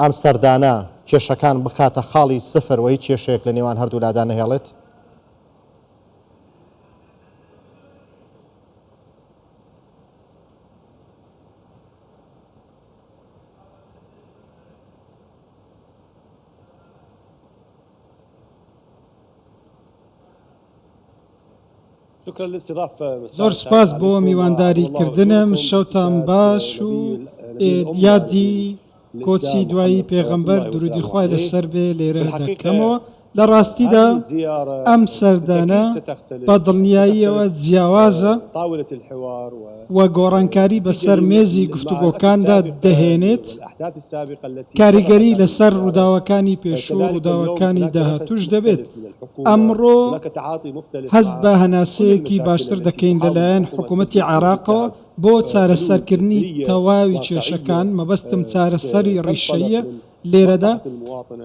ئەم سەردانە کێشەکان بکاتە خاڵی سفر و هیچ کێشەیەک لە نێوان هەردوولادا نەهێڵێت. زۆر سوپاس بۆ میوانداری کردنم شەوتان باش و یادی کۆچی دوایی پێغەمبەر درودی خوای لەسەر بێ لێرە دەکەمەوە لە ڕاستیدا ئەم سەردانە بە دڵنیاییەوە جیاوازە و گۆڕانکاری بەسەر مێزی گفتوگۆکاندا دەهێنێت، کاریگەری لەسەر ڕووداوەکانی پێشوو و ڕووداوەکانی داهاتووش دەبێت. ئەمڕۆ هەست بە هەناسەیەکی باشتر دەکەین لەلایەن حکومەتی عێراقەوە بۆ چارەسەرکردنی تەواوی کێشەکان، مەبەستم چارەسەری ڕیشەییە لێرەدا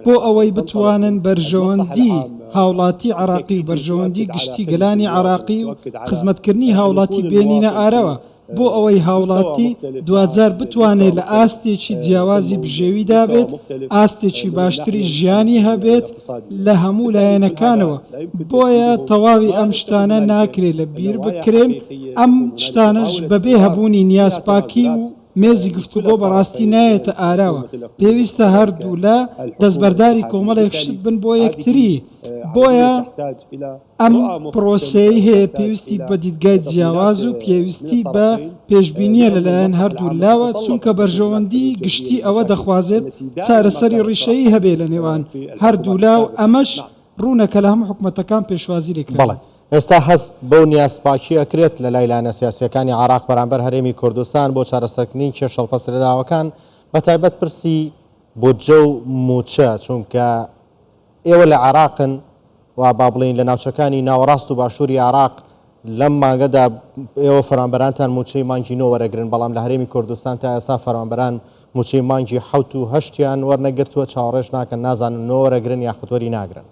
بۆ ئەوەی بتوانن بەرژەوەندی هاوڵاتی عراقی و بەرژەوەندی گشتی گەلانی عراقی و خزمەتکردنی هاوڵاتی بێنینە ئارەوە بۆ ئەوەی هاوڵاتی دواجار بتوانێت لە ئاستێکی جیاوازی بژێوی دابێت ئاستێکی باشتری ژیانی هەبێت لە هەموو لایەنەکانەوە بۆیە تەواوی ئەم شتانە ناکرێت لە بیر بکرێن ئەم شتانەش بەبێ هەبوونی نیازپاکی و مێزی گفتوگۆ بەڕاستی نایێتە ئاراوە، پێویستە هەردوولا دەستبەرداری کۆمەڵێک شت بن بۆ یەکتری، بۆیە ئەم پرۆسەیەی هەیە پێویستی بە دیدگای جیاواز و پێویستی بە پێشبینییە لەلایەن هەردوو لاوە، چونکە بەرژەوەندیی گشتی ئەوە دەخوازێت چارەسەری ڕیشەیی هەبێ لەنێوان هەردوولا و ئەمەش ڕوونە کە لە هەموو حکومەتەکان پێشوازی لێکراوە. ئێستا هەست بەو نیازپاکیە ئەکرێت لەلای لایەنە سیاسیەکانی عێراق بەرامبەر هەرێمی کوردستان بۆ چارەسەرکردنی کێشە هەڵپەسرێداوەکان بەتایبەت پرسی بودجە و موچە چونکە ئێوە لە عێراقن و با بڵێین لە ناوچەکانی ناوەڕاست و باشووری عێراق لەم مانگەدا ئێوە فەرمانبەرانتان موچەی مانگی نۆ وەرەگرن بەڵام لە هەرێمی کوردستان تا ئێستا فەرمانبەران موچەی مانگی حوت و هەشتیان وەرنەگرتووە چاوەڕێش ناکەن نازانن نۆ وەرەگرن یاخوتۆری ناگرن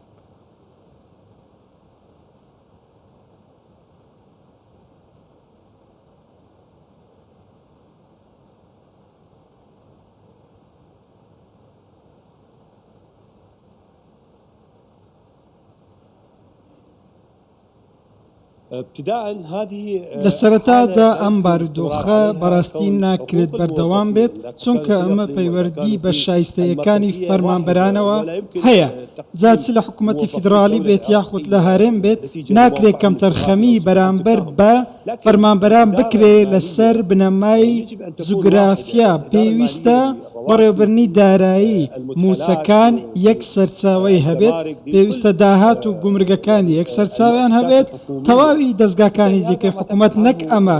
لە سەرەتادا ئەم بارودۆخە بەڕاستی ناکرێت بەردەوام بێت چونکە ئەمە پەیوەردی بە شایستەیەکانی فەرمانبەرانەوە هەیە. جا چ لە حکومەتی فیدڕاڵی بێت یاخود لە هەرێم بێت، ناکرێت کەمتەرخەمی بەرامبەر بە فەرمانبەران بکرێت لەسەر بنەمای جوگرافیا، پێویستە بەڕێوەبەرنی دارایی موچەکان یەک سەرچاوەی هەبێت، پێویستە داهات و گومرگەکان یەک سەرچاوەیان هەبێت، تەواوی دەزگاکانی دیکەی حکومەت نەک ئەمە،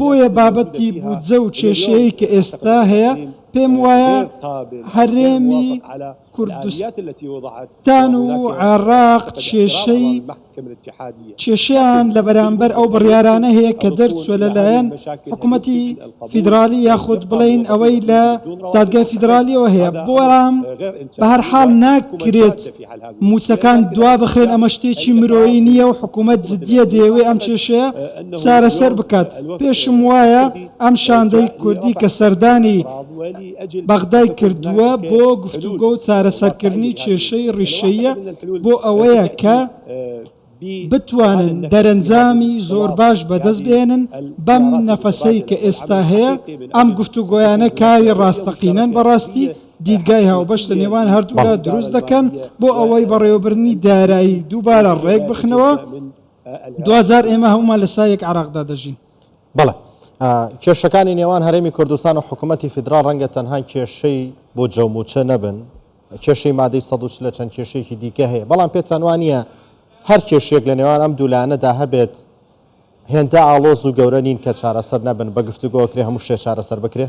بۆیە بابەتی بودجە و کێشەیەی کە ئێستا هەیە پێم وایە هەرێمی کوردستان و عێراق کێشەی کێشیان لە بەرامبەر ئەو بڕیارانە هەیە کە دەرچووە لەلایەن حکوومەتی فیدراالی یاخود بڵین ئەوەی لە دادگای فیدراالیەوە هەیە بۆرام بە هەر حاڵ ناکرێت موچەکان دوا بخرێن ئەمە شتێکی مرۆیی نییە و حکومەت جدیە دەیەوێ ئەم کێشەیە چارەسەر بکات پێشم وایە ئەم شاندەی کوردی کە سەردانی بەغدای کردووە بۆ گفتوگۆ و چارەسەرکردنی کێشەی ڕیشەیە بۆ ئەوەیە کە بتوانن دەرەنجامی زۆر باش بەدەست بێنن، بەم نەفەسەی کە ئێستا هەیە، ئەم گفتوگۆیانە کاری ڕاستەقینەن بەڕاستی دیدگای هاوبەش لە نێوان هەردوولا دروست دەکەن بۆ ئەوەی بەڕێوەبردنی دارایی دووبارە ڕێکبخنەوە، دواجار ئێمە هەموومان لە سایەک عێراقدا دەژین. بەڵێ کێشەکانی نێوان هەرێمی کوردستان و حکومەتی فیدراڵ ڕەنگە تەنها کێشەی بۆ جەوموچە نەبن، کێشەی مادەی سەد و چل چەند کێشەیەکی دیکە هەیە، بەڵام پێتان وا نییە هەر کێشەیەک لە نێوان ئەم دوو لایەنەدا هەبێت هێندە ئاڵۆز و گەورە نین کە چارەسەر نەبن، بە گفتوگۆ ئەکرێ هەموو شتێ چارەسەر بکرێ؟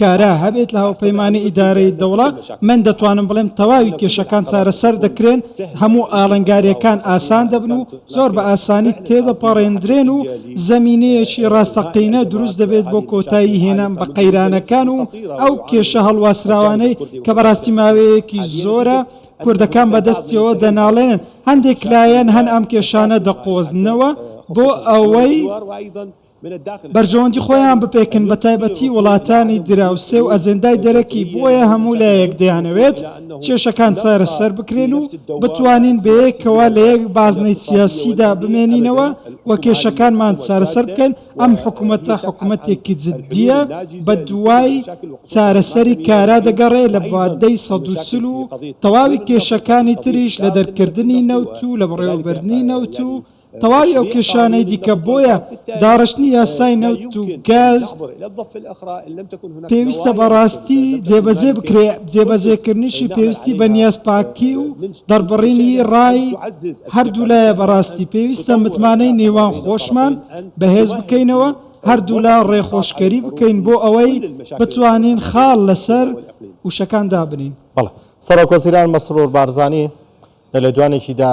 کارا هەبێت لە هاوپەیمانی ئیدارەی دەوڵە من دەتوانم بڵێم تەواوی کێشەکان چارەسەر دەکرێن هەموو ئاڵنگاریەکان ئاسان دەبن و زۆر بە ئاسانی تێدەپەڕێندرێن و زەمینەیەکی ڕاستەقینە دروست دەبێت بۆ کۆتایی هێنان بە قەیرانەکان و ئەو کێشە هەڵواسراوانەی کە بەڕاستی ماوەیەکی زۆرە کوردەکان بەدەستیەوە دەناڵێنن هەندێک لایەن هەن ئەم کێشانە دەقۆزنەوە بۆ ئەوەی بەرژەوەندی خۆیان بپێکن بەتایبەتی وڵاتانی دراوسێ و ئەجێندای دەرەکی بۆیە هەموو لایەک دەیانەوێت کێشەکان چارەسەر بکرێن و بتوانین بەیەکەوە لە یەک بازنەی سیاسیدا بمێنینەوە و کێشەکانمان چارەسەر بکەین ئەم حکومەتە حکومەتێکی جدیە بە دوای چارەسەری کارا دەگەڕێ لە مادەی سەد و چل و تەواوی کێشەکانی تریش لە دەرکردنی نەوت و لە بەڕێوەبردنی نەوت و تەواوی ئەو کێشانەی دیکە، بۆیە داڕشتنی یاسای نەوت و گاز پێویستە بە ڕاستی جێبەجێ بکرێ، جێبەجێکردنیشی پێویستی بە نیازپاکی و دەڕبڕینی ڕای هەردوولایە بە ڕاستی پێویستە متمانەی نێوان خۆشمان بەهێز بکەینەوە، هەردوولا ڕێخۆشکەری بکەین بۆ ئەوەی بتوانین خاڵ لەسەر وشەکان دابنێین. سەرۆکوەزیران مەسرور بارزانی لە لێدوانێکیدا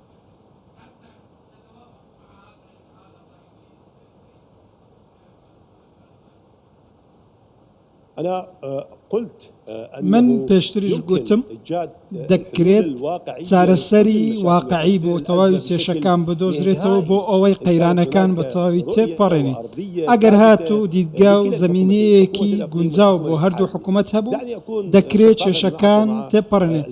من پێشتریش گوتم دەکرێت چارەسەری واقعی بۆ تەواوی کێشەکان بدۆزرێتەوە بۆ ئەوەی قەیرانەکان بە تەواوی تێبپەڕێنین. ئەگەر هاتوو دیدگا و زەمینەیەکی گونجاو بۆ هەردوو حکومەت هەبوو، دەکرێت کێشەکان تێبپەڕێنێت.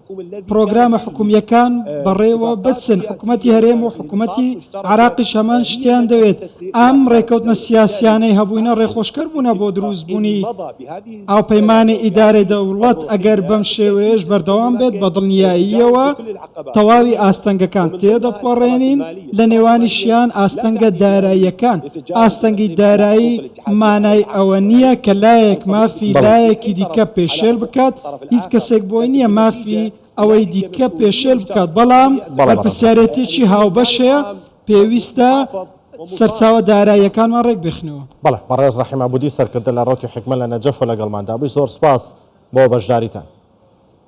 پڕۆگرامە حکومییەکان بەڕێوە بچن، حکومەتی هەرێم و حکومەتی عێراقیش هەمان شتیان دەوێت، ئەم ڕێککەوتنە سیاسییانەی هەبووینە ڕێخۆشکەر بوونە بۆ دروستبوونی هاوپەیمانی ئیدارەی دەوڵەت، ئەگەر بەم شێوەیەش بەردەوام بێت بەدڵنیاییەوە تەواوی ئاستەنگەکان تێدەپەڕێنین، لەنێوانیشیان ئاستەنگە داراییەکان، ئاستەنگی دارایی. مانای ئەوە نییە کە لایەک مافی لایەکی دیکە پێشێل بکات، هیچ کەسێک بۆی نییە مافی ئەوەی دیکە پێشێل بکات، بەڵام بەرپرسیارێتیی هاوبەش هەیە، پێویستە سەرچاوە داراییەکانمان ڕێکبخەینەوە. بەڵێ، بەڕێز ڕەحیم عەبوودی سەرکردە لە ڕەوتی حیکمە لە نەجەفە لەگەڵماندا بووی، زۆر سوپاس بۆ بەشداریتان.